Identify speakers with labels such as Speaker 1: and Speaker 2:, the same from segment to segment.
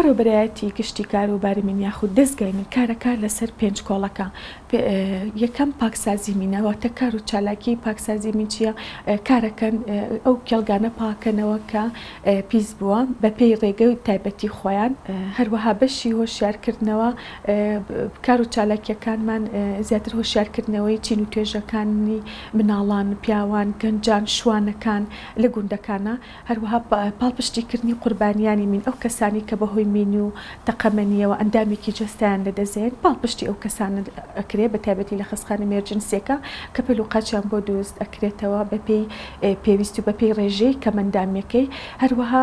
Speaker 1: بەڕێوەبەرایەتی گشتی کاروباری مین یاخود دەزگای مین کارە کار لەسەر پێنج کۆڵەکە یەکەم پاکسازی مینە واتە کار و چالاکی پاکسازی مین چییە کارەکەن ئەو کێڵگانە پاکەنەوە کە پیس بووە بەپێی ڕێگە و تایبەتی خۆیان هەروەها بەشی هۆشیارکردنەوە کار و چالاکییەکانمان زیاتر هۆشیارکردنەوەی چین و توێژەکانی مناڵان، پیاوان، گەنجان، شوانەکان لە گوندەکانە، هەروەها پاڵپشتیکردنی قوربانیانی مین، ئەو کەسانەی کە بەهۆی مین و تەقەمەنییەوە ئەندامێکی جەستەیان لەدەستدەێن، پاڵپشتی ئەو کەسانە ئەکرێت بە تایبەتی لە خەستخانە مێرجنسییەکە کە پەل و قاچیان بۆ دروست ئەکرێتەوە بەپێی پێویست و بەپێی رێژەی کەمئەندامییەکەی، هەروەها.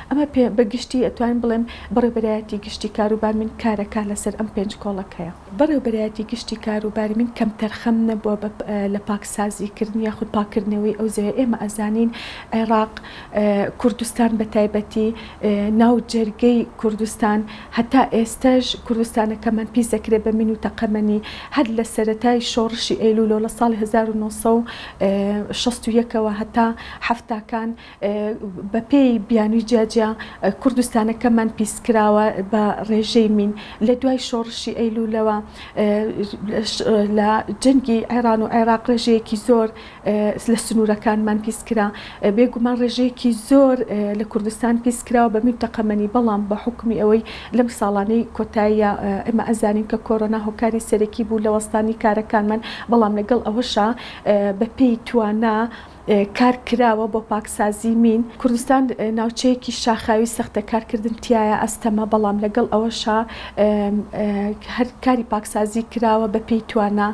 Speaker 1: ئەمە پێ بە گشتی ئەتوانم بڵێم بەڕێوبەرایەتی گشتی کاروبار من کارەکە لەسەر ئەم پێنج کۆڵەکەیە. بەڕێوبەرایەتی گشتی کاروباری من کەمتەرخەم نەبووە بە لە پاکسازی کردن یاخود پاککردنەوەی ئەو زەویە ئێمە ئەزانین عێڕاق کوردستان بە تایبەتی ناو جەرگەی کوردستان هەتا ئێستەش کوردستانەکەمان پیس دەکرێ بە مین و تەقەمەنی هەر لە سەرەتای شۆڕشی ئەیلوولەوە لە ساڵی هەزار و نۆ سەد و شەست و یەک ەوە هەتا حەفتاکان بەپێی بیانوی جیاجیا کوردستانەکەمان پیسکراوە بە ڕێژەی مین لە دوای شۆڕشی ئەیلولەوە لە جەنگی عێران و عێراق ڕێژەیەکی زۆر لە سنوورەکانمان پیسکرا بێگومان ڕێژەیەکی زۆر لە کوردستان پیسکراوە بە مین تەقەمەنی بەڵام بە حکومی ئەوەی لەم ساڵانەی کۆتاییە ئێمە ئەزانین کە کۆرۆنا هۆکاری سەرەکی بوو لە وەستانی کارەکانمان بەڵام لەگەڵ ئەوەشا بەپێی توانا کار کراوە بۆ پاکسازی مین. کوردستان ناوچەیەکی شاخاوی سەختە کارکردن تیایا ئەستەمە، بەڵام لەگەڵ ئەوەشا هەر کاری پاکسازی کراوە بە پێی توانا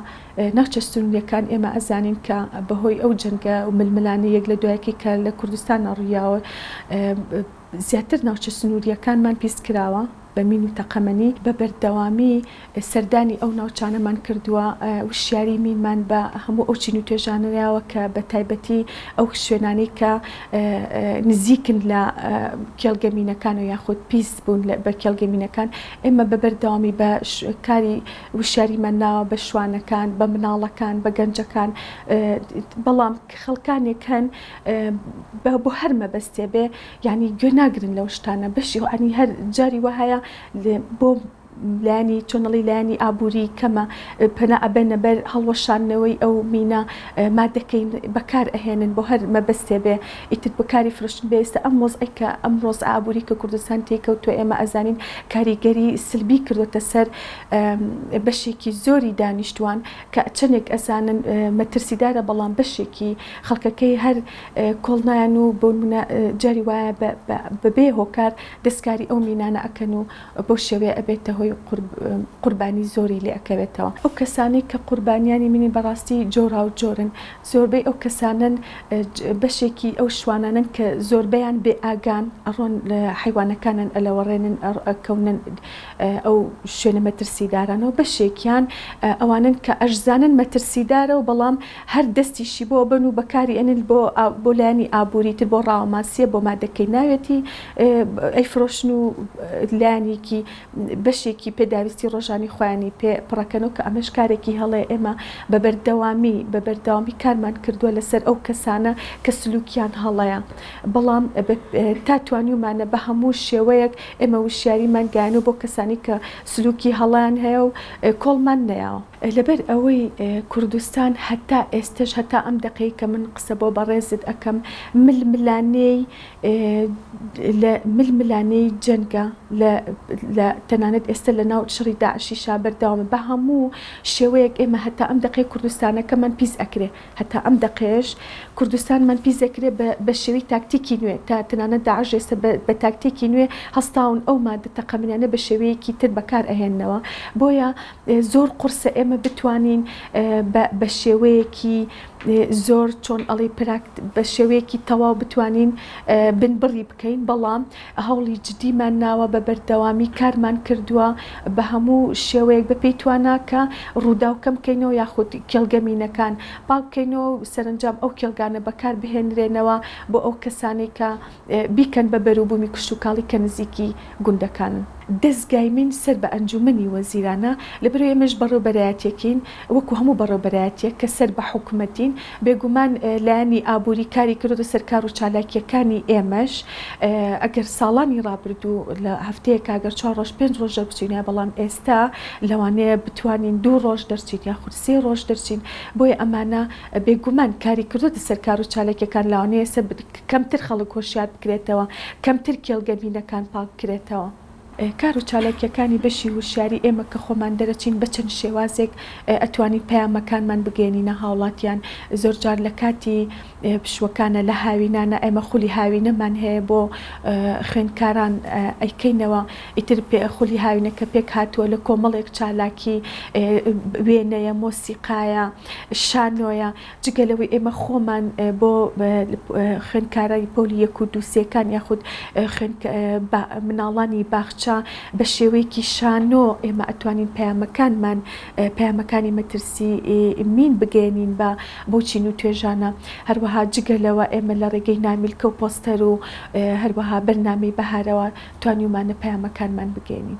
Speaker 1: ناوچە سنوریەکان، ئێمە ئەزانین کە بەهۆی ئەو جەنگە و ململانێ یەک لە دوایەکی کە لە کوردستانا ڕویاوە، زیاتر ناوچە سنوورییەکانمان پیس کراوە بە مین و تەقەمەنی، بە بەردەوامی سەردانی ئەو ناوچانەمان کردووە، وشیاریی مینمان بە هەموو ئەو چین و توێژانە ناوە کە بە تایبەتی ئەو شوێنانەی کە نزیکن لە کێڵگە مینەکانەوە یاخود پیس بوون بە کێڵگە مینەکان، ئێمە بە بەردەوامی بە کاری وشیاریمان ناوە بە شوانەکان، بە مناڵەکان، بە گەنجەکان، بەڵام خەڵکانێک هەن. با بۆ هەر مەبەستێ بێ یانی گوێ ناگرن لەو شتانە بەشی عنی هەر جاری وهەیە بۆ لانی چۆنەڵی لایانی ئابووری کەمە پەنا ئەبەنە بەر هەڵوەشاندنەوەی ئەو مینە مادەکەی بەکار ئەهێنن بۆ هەر مەبەستێ بێ ئیتر بەکاری فرۆشتن بێستە ئەم وەزعەی کە ئەمڕۆز ئابووری کە کوردستان تێیکەوتوە ئێمە ئەزانین کاریگەری سلبی کردوەتە سەر بەشێکی زۆری دانیشتوان کە چەندێک ئەزانن مەترسیدارە بەڵام بەشێکی خەڵکەکەی هەر کۆڵ نایەن و بۆ نمونە جاری وایە بە بێ هۆکار دەستکاری ئەو مینانە ئەکەن و بەو شێوەیە ئەبێتە هۆی قوربانی زۆری لێ ئەکەوێتەوە ئەو کەسانەی کە قوربانیانی مینی بەڕاستی جۆراو جۆرن زۆربەی ئەو کەسانەن بەشێکی ئەو شوانانەن کە زۆربەیان بێ ئاگان ئەڕۆن حەیوانەکانیان ئەلەوەڕێنن ئەکەونن ئەو شوێنە مەترسیدارانەو بەشێکیان ئەوانەن کە ئەشزانن مەترسیدارە و بەڵام هەر دەستیشی بۆ ئەبەن و بەکاری ئەنن بۆ بۆ لایەنی ئابووری تر بۆ ڕاوەماسیە بۆ مادەکەی ناوێتی ئەیفرۆشن و لایەنێکی بەشێکی پێداویستی ڕۆژانی خۆیانی پێ پڕەکەنەوە کە ئەمەش کارێکی هەڵەیە ئێمە بە بەردەوامی بە بەردەوامی کارمان کردووە لەسەر ئەو کەسانە کە سلوکیان هەڵەیە بەڵام تا توانیومانە بە هەموو شێوەیەک ئێمە وشیاریمان گەیانەوە بۆ کەسانی کە سلوکی هەڵەیان هەیە و کۆڵمان نەیاوە. لەبەر ئەوەی کوردستان هەتا ئێستەش هەتا ئەم دەقەی کە من قسە بۆ بەڕێزت ئەکەم ململانێی لە ململانێی جەنگە لە لە تەنانەت ئێستە لە ناو شەڕی داعشیشا بەردەوامە بە هەموو شێوەیەک ئێمە هەتا ئەم دەقەی کوردستانەکەمان پیس ئەکرێ. هەتا ئەم دەقەیەش کوردستانمان پیس دەکرێت بە شێوەی تاکتیکی نوێ تا تەنانەت داعش ئێستا بە تاکتێکی نوێ هەستاون ئەو مادە تەقەمنیانە بە شێوەیەکی تر بەکار ئەهێننەوە بۆیە زۆر قورسە ئێمە بتوانین بە شێوەیەکی زۆر چۆن ئەڵی پراکت بە شێوەیەکی تەواو بتوانین بن بڕی بکەین بەڵام هەوڵی جدیمان ناوە بە بەردەوامی کارمان کردووە بە هەموو شێوەیەک بە پێی توانا کە ڕووداو کەم کەینەوە یاخود کێڵگە مینەکان پاک کەینەوە و سەرەنجام ئەو کێڵگانە بەکار بهێنرێنەوە بۆ ئەو کەسانەی کە بیکەن بە بەروبوومی کشتوکاڵی کە نزیکی گوندەکانن. دەزگای مین سەر بە ئەنجوومەنی وەزیرانە لەبەرئەوەی ئێمەش بەڕێوبەرایەتیەکین، وەکو هەموو بەڕێوبەرایەتیەک کە سەر بە حکومەتین، بێگومان لایەنی ئابوری کاری کردۆتە سەر کارو چالاکیەکانی ئێمەش، ئەگەر ساڵانی ڕابردوو لە هەفتەیەکا گەر چوار ڕۆژ پێنج ڕۆژ دەربچینایە بەڵام ئێستا لەوانەیە بتوانین دوو ڕۆژ دەرچین یاخود سێ ڕۆژ دەرچین بۆیە ئەمانە بێگومان کاری کردۆتە سەر کارو چالاکیەکان لەوانەیە کەمتر خەڵک هۆشیار بکرێتەوە کەمتر کێڵگە مینەکان پاک بکرێتەوە. کار و چالاکیەکانی بەشی ووشیاری ئێمە کە خۆمان دەرەچین بە چەند شێوازێک ئەتوانین پەیامەکانمان بگەیەنینە هاوڵاتیان زۆر جار لە کاتی پشووەکانە لە هاوینانە ئێمە خولی هاوینەمان هەیە بۆ خوێندکاران ئەیکەینەوە ئیتر خولی هاوینەکە پێک هاتووە لە کۆمەڵێک چالاکی وێنەیە مۆسیقایە شانۆیە جگە لەوەی ئێمە خۆمان بۆ خوێندکارانی پۆلی یەک و دوو سێکان یاخود مناڵانی باخچە بە شێوەیەکی شانۆ ئێمە ئەتوانین پەیامەکانمان پەیامەکانی مەترسی مین بگەیەنین بە بەو چین و توێژانە هەروەها جگە لەوە ئێمە لە ڕێگەی نامیلکە و پۆستەر و هەروەها بەرنامەی بەهارەوە توانیومانە پەیامەکانمان بگەیەنین.